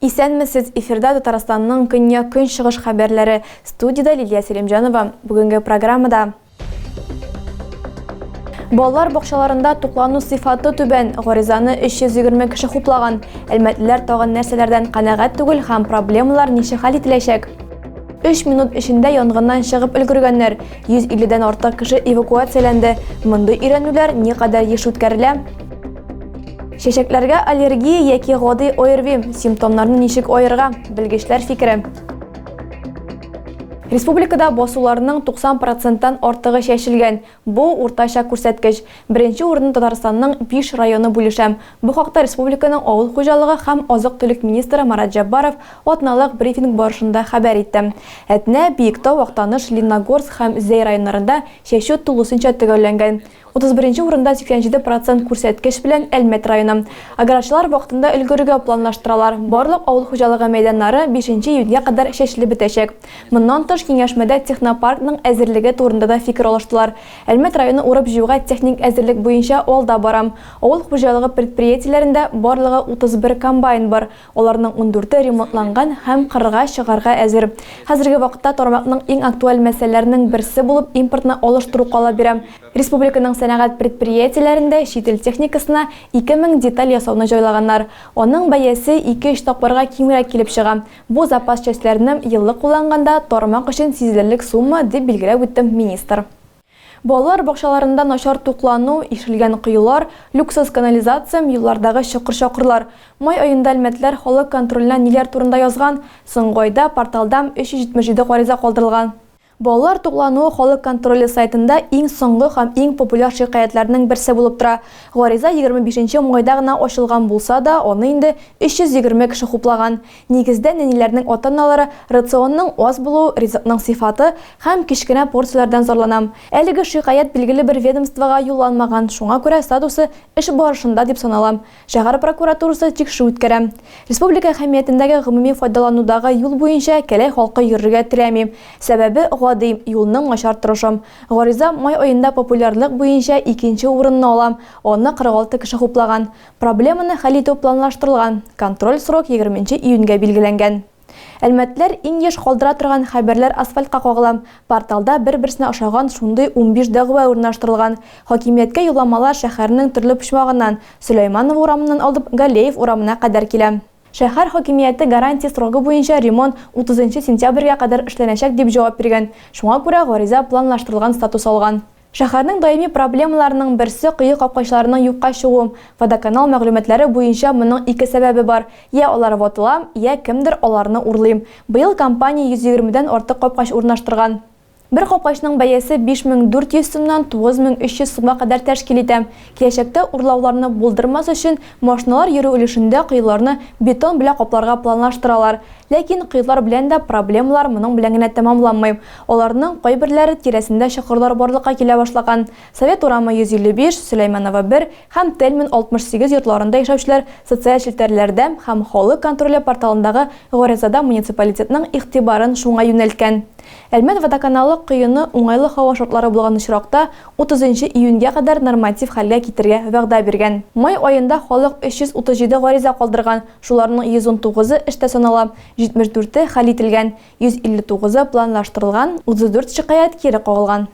Исәнмесез, эфирда Татарстанның көньяк-көнчыгыш хәбәрләре. Студиядә Лилия Селимҗанова. Бүгенге программада Балалар бакчаларында туклану сыйфаты түбән, гаризаны 320 кеше хуплаган. Әлмәтлеләр тагын нәрсәләрдән канәгать түгел һәм проблемалар ничек хәл ителәчәк? 3 минут эчендә янгыннан чыгып өлгергәннәр. 150 дән артык кеше эвакуацияләнде. Мондый өйрәнүләр никадәр еш үткәрелә? Чәчәкләргә аллергия яки гади ОРВИ симптомнарны ничек аерга? Белгечләр фикере. Республикада басуларның 90 проценттан артыгы чәчелгән. Бу уртача күрсәткеч. Беренче урынны Татарстанның биш районы бүлешә. Бу хакта республиканың авыл хуҗалыгы һәм азык-төлек министры Марат Җәббаров атналык брифинг барышында хәбәр итте. Әтнә, Биектау, Актаныш, Лениногорск һәм Зәй районнарында чәчү тулысынча төгәлләнгән. Утыз беренче урында 87 процент күрсәткеч белән Әлмәт районы. Аграрчылар вакытында өлгерергә планлаштыралар. Барлык авыл хуҗалыгы мәйданнары бишенче июньгә кадәр чәчелеп бетәчәк. Моннан тыш, киңәшмәдә технопаркның әзерлеге турында да фикер алыштылар. Әлмәт районы урып-җыюга техник әзерлек буенча алда бара. Авыл хуҗалыгы предприятиеләрендә барлыгы 31 комбайн бар. Аларның ундүрте ремонтланган һәм кырга чыгарга әзер. Хәзерге вакытта тармакның иң актуаль мәсьәләләренең берсе булып импортны алыштыру кала бирә. Республиканың сәнәгать предприятиеләрендә чит ил техникасына 2000 деталь ясауны җайлаганнар. Аның бәясе ике-өч тапкырга кимрәк килеп чыга. Бу запас частьләрне еллык кулланганда тармак өчен сизелерлек сумма, дип билгеләп үтте министр. Балалар бакчаларында начар туклану, ишелгән коелар, люксоз канализациям, юллардагы чокыр-чакырлар. Май аенда әлмәтләр халык контроленә ниләр турында язган? Соңгы айда порталдам 377 гариза калдырылган. Балалар туклануы халык контроле сайтында иң соңгы һәм иң популяр шикаятьләрнең берсе булып тора. Гариза егерме бишенче майда гына ачылган булса да, аны инде 320 кеше хуплаган. Нигездә нәниләрнең ата-аналары рационның аз булуы, ризыкның сыйфаты һәм кечкенә порцияләрдән зарланам. Әлеге шикаять билгеле бер ведомствога юлланмаган, шуңа күрә статусы эш барышында дип санала. Шәһәр прокуратурасы тикшерү үткәрә. Республика әһәмиятендәге гомуми файдаланудагы юл буенча Кәләй халкы йөрергә теләми. Сәбәбе гади, юлның начар торышы. Гариза май аенда популярлык буенча икенче урынны ала, аны 46 кеше хуплаган. Проблеманы хәл итү планлаштырылган, контроль срок егерме нче июньгә билгеләнгән. Әлмәтләр иң еш калдыра торган хәбәрләр асфальтка кагыла, порталда бер-берсенә ошаган шундый унбиш дәгъвә урнаштырылган. Хакимияткә юлламалар шәһәрнең төрле почмагыннан, Сөләйманова урамыннан алып Галеев урамына кадәр килә. Шәһәр хакимияте гарантия срогы буенча ремонт утызынчы сентябрьгә кадәр эшләнәчәк дип җавап биргән, шуңа күрә гариза планлаштырылган статус алган. Шәһәрнең даими проблемаларының берсе кое капкачларының юкка чыгу. Водоканал мәгълүматлары буенча моның ике сәбәбе бар, йә алар ватыла, йә кемдер аларны урлый. Быел компания 120 дән артык капкач урнаштырган. Бер капкачның бәясе 5400 сумнан 9300 сумга кадәр тәшкил итә. Киләчәктә урлауларны булдырмас өчен, машиналар йөрү өлешендә коеларны бетон белә капларга планлаштыралар. Ләкин коелар белән дә проблемалар моның белән генә тәмамланмый. Аларның кайберләре тирәсендә чокырлар барлыкка килә башлаган. Совет урамы 155, Сөләйманова 1 һәм Тельман 68 йортларында яшәүчеләр социаль челтәрләрдә һәм халык контроле порталындагы гаризада муниципалитетның игътибарын шуңа юнәлткән. Әлмәт водоканалы коены уңайлы һава шартлары булган очракта Утызынчы июньгә кадәр норматив хәлгә китергә вәгъдә биргән. Май аенда халык 337 гариза калдырган, шуларның 119-ы эштә санала, 74-е хәл ителгән, 159-ы планлаштырылган, 34 шикаять кире кагылган.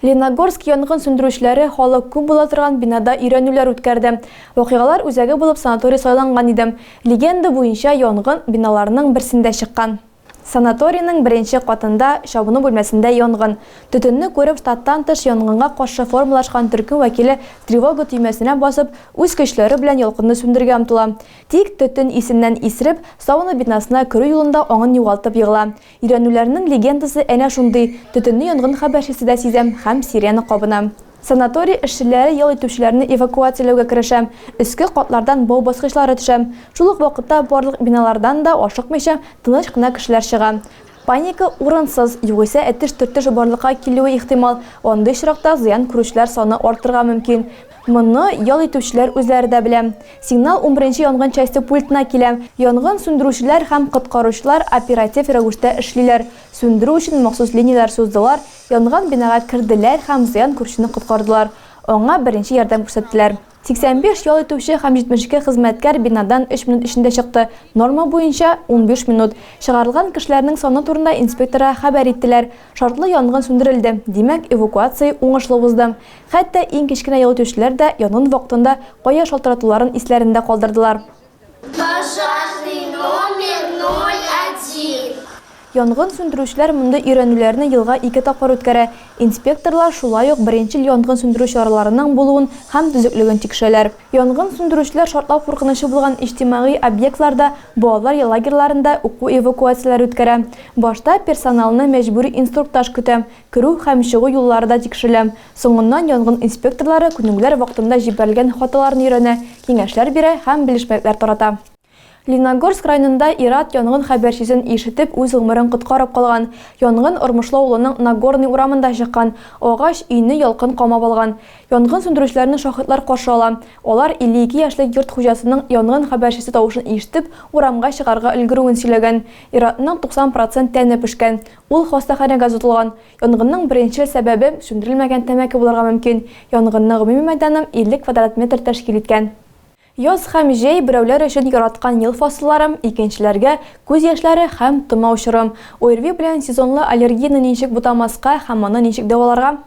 Леногорск янгын сүндерүчеләре халык күп була торган бинада өйрәнүләр үткәрде. Вакыйгалар үзәге булып санаторий сайланган иде. Легенда буенча, янгын биналарның берсендә чыккан. Санаторийның беренче катында, чабыну бүлмәсендә янгын. Төтенне күреп, штаттан тыш янгынга каршы формалашкан төркем вәкиле тревога төймәсенә басып, үз көчләре белән ялкынны сүндергә омтыла. Тик төтен исеннән исереп, сауна бинасына керү юлында аңын югалтып егыла. Өйрәнүләрнең легендасы әнә шундый, төтенне янгын хәбәрчесе дә сизә һәм сирена кабына. Санаторий эшчеләре ял итүчеләрне эвакуацияләүгә керешә, өске катлардан бау баскычлары төшә. Шул ук вакытта барлык биналардан да ашыкмыйча, тыныч кына кешеләр чыга. Паника урынсыз, югыйсә этеш-төртеш барлыкка килүе ихтимал, андый очракта зыян күрүчеләр саны артырга мөмкин. Моны ял итүчеләр үзләре дә белә. Сигнал унберенче янгын часте пультына килә. Янгын сүндерүчеләр һәм коткаручылар оператив рәвештә эшлиләр. Сүндерү өчен махсус линияләр суздылар, Янган бинага керделәр һәм зыян күрүчене коткардылар, аңа беренче ярдәм күрсәттеләр. 85 ял итүче һәм 72 хезмәткәр бинадан өч минут эчендә чыкты, норма буенча, унбиш минут. Чыгарылган кешеләрнең саны турында инспекторга хәбәр иттеләр. Шартлы янгын сүндерелде, димәк, эвакуация уңышлы узды. Хәтта иң кечкенә ял итүчеләр дә янгын вакытында кая шалтыратуларын исләрендә калдырдылар. Пожарный номер 01. Янгын сүндерүчеләр мондый өйрәнүләрне елга ике тапкыр үткәрә. Инспекторлар шулай ук беренчел янгын сүндерү чараларының булуын һәм төзеклеген тикшерәләр. Янгын сүндерүчеләр шартлау куркынычы булган иҗтимагый объектларда, балалар лагерьларында уку эвакуацияләре үткәрә. Башта персоналны мәҗбүри инструктаж көтә. Керү һәм чыгу юллары да тикшерелә. Соңыннан янгын инспекторлары күнегүләр вакытында җибәрелгән хаталарны өйрәнә, киңәшләр бирә һәм белешмәлекләр тарата. Лениногорск районында ир-ат янгын хәбәрчесен ишетеп үз гомерен коткарып калган. Янгын Ормышлы авылының Нагорный урамында чыккан. Агач өйне ялкын камап алган. Янгын сүндерүчеләрне шаһитлар каршы ала. Алар 52 яшьлек йорт хуҗасының янгын хәбәрчесе тавышын ишетеп урамга чыгарга өлгерүен сөйләгән. Ир-атның 90 процент тәне пешкән. Ул хастаханәгә озатылган. Янгынның беренчел сәбәбе, сүндерелмәгән тәмәке булырга мөмкин. Янгынның гомуми мәйданы 50 квадрат метр тәшкил иткән. Яз һәм җәй, берәүләр өчен яраткан ел фасыллары, икенчеләргә, күз яшьләре һәм томау чоры. ОРВИ белән сезонлы аллергияне ничек бутамаска һәм аны ничек дәваларга?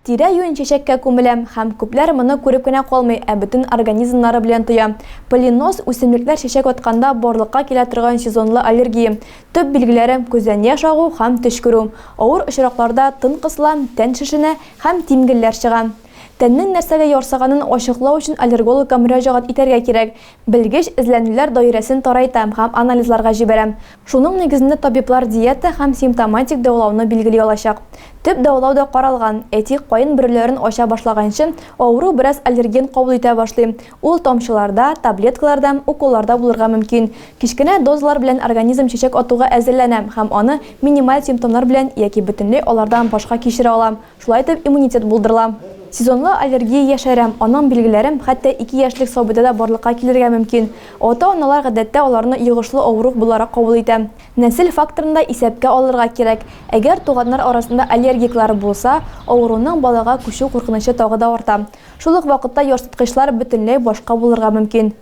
Тирә-юнь чәчәккә күмелә, һәм күпләр моны күреп кенә калмый, ә бөтен организмнары белән тоя. Полиноз, үсемлекләр чәчәк атканда барлыкка килә торган сезонлы аллергия. Төп билгеләре, күздән яшь агу һәм төчкерү. Авыр очракларда тын кысыла, тән шешенә һәм тимгелләр чыга. Тәннең нәрсәгә ярсыганын ачыклау өчен аллергологка мөрәҗәгать итәргә кирәк. Белгеч эзләнүләр даирәсен тарайта һәм анализларга җибәрә. Шуның нигезендә табиблар диета һәм симптоматик дәвалауны билгели алачак. Төп дәвалау да каралган, әйтик, каен бөреләрен ача башлаганчы, авыру бераз аллерген кабул итә башлый. Ул тамчыларда, таблеткаларда, уколларда булырга мөмкин. Кечкенә дозалар белән организм чәчәк атуга әзерләнә һәм аны минималь симптомнар белән яки бөтенләй алардан башка кичерә ала. Шулай итеп иммунитет булдырыла. Сезонлы аллергия яшәрә, аның билгеләре хәтта ике яшьлек сабыйда да барлыкка килергә мөмкин. Ата-аналар гадәттә аларны йогышлы авыру буларак кабул итә. Нәсел факторын да исәпкә алырга кирәк. Әгәр туганнар арасында аллергиклар булса, авыруның балага күчү куркынычы тагы да арта. Шул ук вакытта ярсыткычлар бөтенләй башка булырга мөмкин.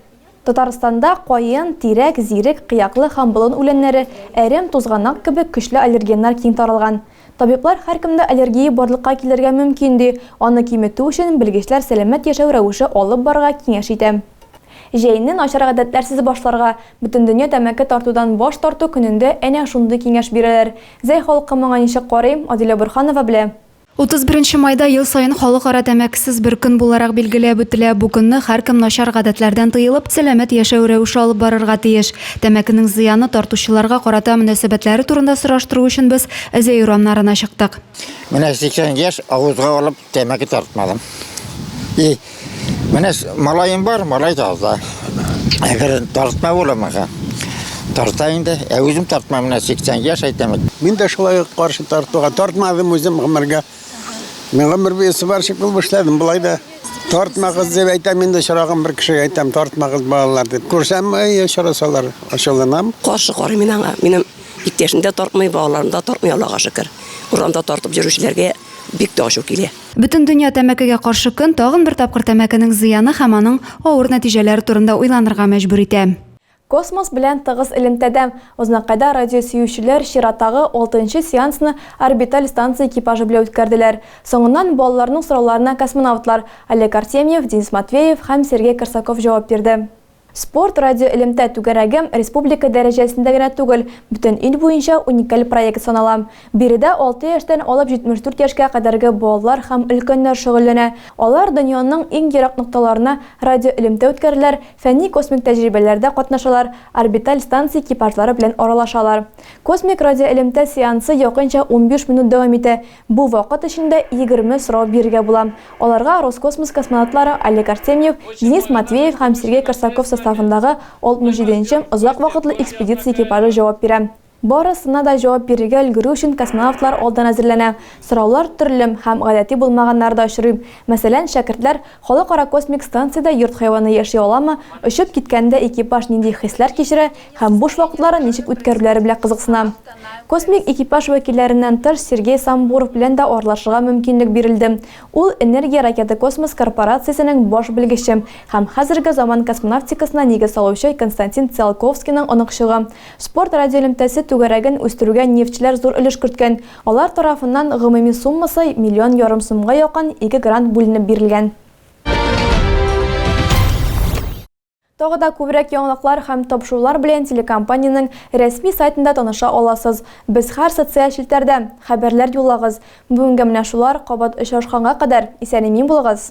Татарстанда каен, тирәк, зирек, кыяклы һәм болын үләннәре, әрем, тузганак кебек көчле аллергеннар киң таралган. Табиблар һәркемдә аллергия барлыкка килергә мөмкин, ди. Аны киметү өчен белгечләр сәламәт яшәү рәвеше алып барырга киңәш итә. Җәйне начар гадәтләрсез башларга, Бөтендөнья тәмәке тартудан баш тарту көнендә әнә шундый киңәш бирәләр. Зәй халкы моңа ничек карый, Адилә Борһанова белә. 31 майда ел саен Халыкара тәмәкесез бер көн буларак билгеләп үтелә. Бу көнне һәркем начар гадәтләрдән тыелып, сәламәт яшәү рәвеше алып барырга тиеш. Тәмәкенең зыяны тартучыларга карата мөнәсәбәтләре турында сораштыру өчен без Әзәй урамнарына чыктык. Менә 80 яшь авызга алып тәмәке тартмадым. И. Менә малаем бар, малай да алда. Әгәр тартма була мага. Тарта инде. Ә үзем тартма менә 80 яшь әйтәм. Мин дә шулай каршы тартуга тартмадым үзем гомергә. Мин гомер буе сварщик булып эшләдем. Болай да тартмагыз дип әйтәм инде чырагым бер кешегә әйтәм тартмагыз балалар дип. Күрсәм, әй, чарасалар, ашалынам. Каршы карыйм мин аңа. Минем иптәшем дә тартмый, балаларым да тартмый, Аллага шөкер. Урамда тартып йөрүчеләргә бик тә ачу килә. Бөтендөнья тәмәкегә каршы көн тагын бер тапкыр тәмәкенең зыяны һәм аның авыр нәтиҗәләре турында уйланырга мәҗбүр итә. Космос белән тыгыз элемтәдә, Узнакайда радиосөючеләр чиратагы алтынчы сеансны орбиталь станция экипажы белән үткәрделәр. Соңыннан балаларның сорауларына космонавтлар, Олег Артемьев, Денис Матвеев һәм Сергей Корсаков җавап бирде. Спорт радиоэлемтә түгәрәге республика дәрәҗәсендә генә түгел, бөтен ил буенча уникаль проект санала. Биредә алты яшьтән алып 74 яшькә кадәрге балалар һәм өлкәннәр шөгыльләнә. Алар дөньяның иң ерак нокталарына радиоэлемтә үткәрәләр, фәнни-космик тәҗрибәләрдә катнашалар, орбиталь станция экипажлары белән аралашалар. Космик радиоэлемтә сеансы якынча унбиш минут дәвам итә, Бу вакыт эчендә егерме сорау бирергә була. Аларга Роскосмос космонавтлары Олег Артемьев, Денис Матвеев һәм Сергей Корсаков составындагы 67 нче озак вакытлы экспедиция экипажы җавап бирә. Барысына да җавап бирергә өлгерү өчен космонавтлар алдан әзерләнә. Сораулар төрле һәм гадәти булмаганнары да очрый. Мәсәлән, шәкертләр Халыкара космик станциядә йорт хайваны яши аламы, очып киткәндә экипаж нинди хисләр кичерә һәм буш вакытларын ничек үткәрүләре белә кызыксына. Космик экипаж вәкилләреннән тыш Сергей Самбуров белән дә аралашырга мөмкинлек бирелде. Ул, Энергия ракета-космос корпорациясенең баш белгече һәм хәзерге заман космонавтикасына нигез салучы Константин Циолковскийның оныкчыгы. Спорт радиоэлемтәсе түгәрәген үстерүгә нефтьчеләр зур өлеш керткән. Алар тарафыннан гомуми суммасы миллион ярым сумга якын ике грант бүленеп бирелгән. Тагы да күбрәк яңалыклар һәм тапшырулар белән телекомпаниянең рәсми сайтында таныша аласыз. Без һәр социаль челтәрдә! Хәбәрләр юллагыз! Бүгенгә менә шулар, кабат очрашканга кадәр, исән-имин булыгыз!